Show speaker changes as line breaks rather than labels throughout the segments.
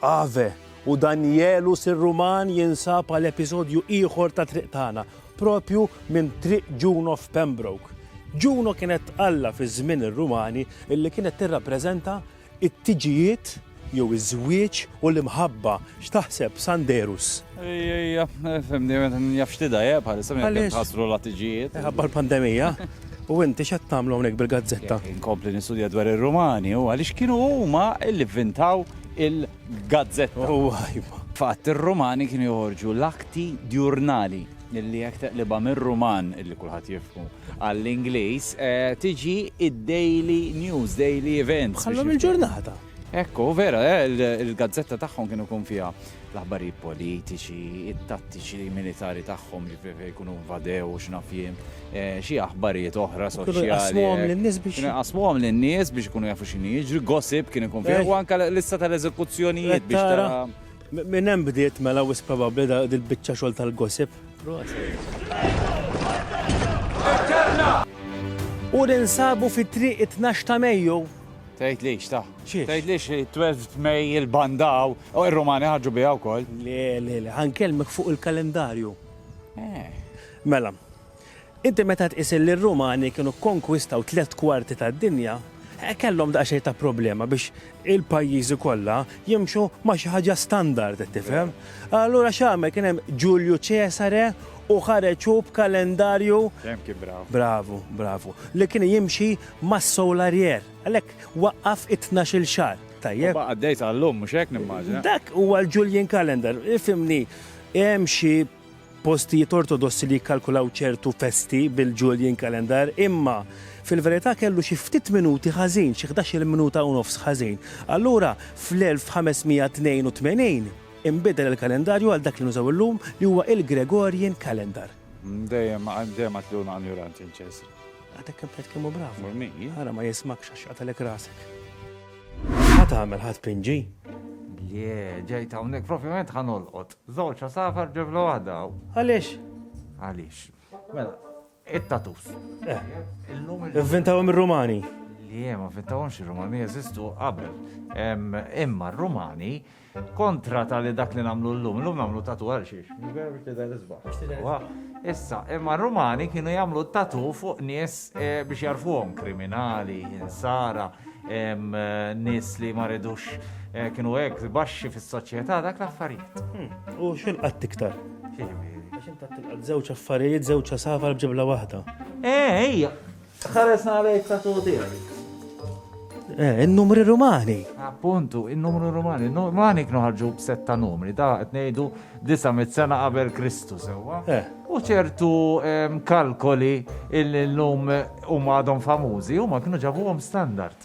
Ave, u Danjelu Sirruman jinsab għal episodju ieħor ta' Triq Tagħna, propju minn Triq Juno f'Pembroke. Juno kienet alla fi żmien ir-Rumani li kienet tirrappreżenta t-tiġijiet jew iż-żwieġ u l-imħabba, x'taħseb Sanderus? Ejja,
fimni, jaf xtida, jeb, għalissa minn jek tħasru l-attiġijiet. Għabba l-pandemija.
U inti xed tamlu għonek bil-gazzetta? Inkompli nistudja
dwar il-Rumani u għalix kienu huma illi vintaw il-gazzetta. U għajba. Fatt, il-Rumani kienu joħorġu l-akti djurnali illi jek teqliba mir-Ruman illi kulħadd jifmu għall-Ingliż eh, tiġi id-Daily News, Daily Events. Għallum il-ġurnata.
Hekk hu, vera,
il-gazzetta tagħhom kienu jkun fiha l-aħbarijiet politiċi, it-tattiċi militari tagħhom li fejn jkunu invadew u x'naf jien, eh, xi aħbarijiet oħra soċjali. Kienu jqasmuhom lin-nies biex. Kienu jqasmuhom lin-nies biex ikunu jafu x'inhi jiġri, gossip kien ikun fiha eh. u anke lista tal-eżekuzzjonijiet biex tara. Minn hemm bdiet
mela wis probabbli dil-biċċa xogħol tal-gossip. U ninsabu fi triq 12 ta' Mejju Tgħidlix ta.
Xiex? Tgħidlix 12 May il-banda hawn u r-Rumani ħarġu biha wkoll. Le, le, le,
ħankellmek fuq il-kalendarju. Eh. Mela, inti meta tqis li r-Rumani kienu kkonkwistaw tliet kwarti tad-dinja, eh, kellhom daqsxejn ta' problema biex il-pajjiżi kollha jimxu ma' xi ħaġa standard, qed tifhem? Allura x'għamel kien hemm Ġulju Ċesare u ħareġ hu b'kalendarju Dejjem kien brav.
Bravu, bravu. Li kien
jimxi mas-soularier, għalhekk waqqaf it-tnax-il xahar. Tajjeb? Huwa għaddej sa llum, mhux
hekk nimmaġina? Dak huwa l-Julian
Calendar, ifhimni, hemm xi postijiet ortodossi li jikkalkulaw ċertu festi bil-Julian Calendar, imma fil-verità kellu xi ftit minuti ħażin, xi ħdax-il minuta u nofs ħażin. Allura fl-1582 inbidel il-kalendarju għal dak li nużaw illum li huwa il-Gregorian Calendar. Dejjem,
dejjem għadt li hu injoranti l-Ċesri. Għatek kempet kemm
hu brav. Mur min? Ara ma jismakx
għax
qatalek rasek. Ma tagħmel ħadd pinġi? Le,
ġejt hawnhekk propjament ħanolqot. Żewġ safar ġebla waħda. Għaliex?
Għaliex.
Mela, it-tatus. Eh. Illum il-vintawhom
ir-Rumani. Le, ma
vintawhomx ir-Rumani jeżistu qabel. Imma r-Rumani Kontra ta' li dak li namlu l-lum, l-lum namlu tatu għal xiex, vera biex tidher isbaħ. Issa, imma r-Rumani kienu jamlu tatu fuq nies eh, biex jarfuhom kriminali, insara, eh, nies li ma ridux eh, kienu hekk baxxi fis-soċjetà dak l-affarijiet. Hmm. U xil
qatt iktar? Għax inta tilqat żewġ affarijiet, żewġ safar b'ġibla waħda. Eh, ejja,
Tħares għalejk tatu
tiegħi. Eh, in-numri Rumani. Appuntu, in-numru
Rumani. Rumani kienu ħarġu b'set ta' numri, da' qed ngħidu disa' mit-sena qabel Kristu sewwa. Eh. U ċertu ehm, kalkoli il-lum huma għadhom famużi, huma kienu ġabuhom standard.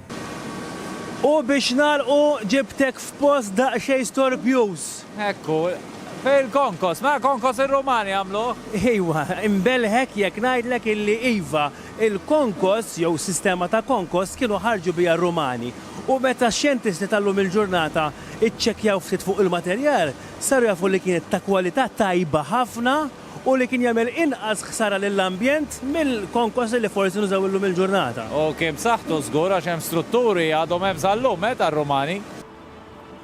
U biex nagħlqu ġibtek f'post daqsxejn storbjuż. Ekku,
fil-konkos, ma konkos ir-Rumani għamluh? Iwa,
inbelħek jekk ngħidlek illi iva, il-konkos jew sistema ta' konkos kienu ħarġu biha r-Rumani. U meta x-xjentisti tal-lum il-ġurnata ċċekkjaw ftit fuq il-materjal, saru jafu li kienet ta' kwalità tajba ħafna, u li kien jagħmel inqas ħsara lill-ambjent mill-konkosli li forsi nużaw illum il-ġurnata. U kien b'saħħtu
żgur għax hemm strutturi li għadhom hemm sal-lum, eh, tar-Rumani.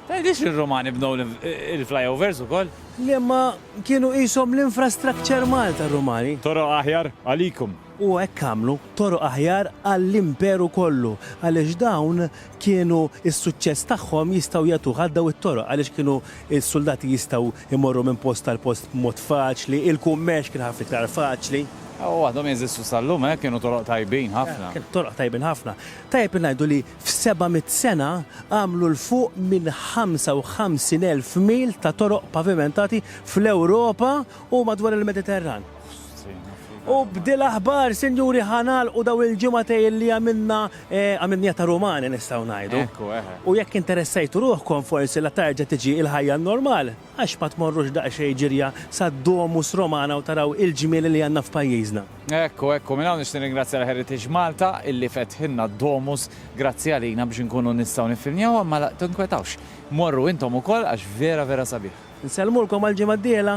Tgħidlix li r-Rumani bnew il-flyovers ukoll? Le, imma
kienu qishom l-infrastructure mall tar-Rumani. Toroq aħjar
għalikum. U hekk għamlu,
toroq aħjar għall-Imperu kollu, għaliex dawn kienu s-suċċess tagħhom jistgħu jagħtuh għal dawn it-toroq għaliex kienu s-suldati jistgħu Imorru minn post għal post b'mod faċli, il-kummerċ kien ħafna iktar faċli. U għadhom jeżistu
sal-lum, eh, kienu toroq tajbin ħafna. Kienu toroq tajbin ħafna.
Tajjeb li ngħidu li f'seba' mitt sena għamlu 'l fuq minn 55,000 mil ta' toroq pavimentati fl-Ewropa u madwar il-Mediterran. U b'dil aħbar, sinjuri ħa nagħlqu daw il-ġimgħatejn li għamilna għamilniha ta' Rumani nistgħu ngħidu. Ekku eħe. U jekk
interessajtu
ruħkom forsi la tarġa' tiġi il-ħajja n-normal, għax ma tmorrux daqsxejn ġirja sad-Domus Romana u taraw il-ġmiel li għandna f'pajjiżna. Ekku ekku, minn hawn
nixtieq nirringrazzja lil Heritage Malta illi fetħilna d-Domus, grazzi għalina biex inkunu nistgħu niffilmjawha imma la tinkwetawx, morru intom ukoll għax vera vera
sabiħ.
Nsellmulkom għall-ġimgħa d-dieħla.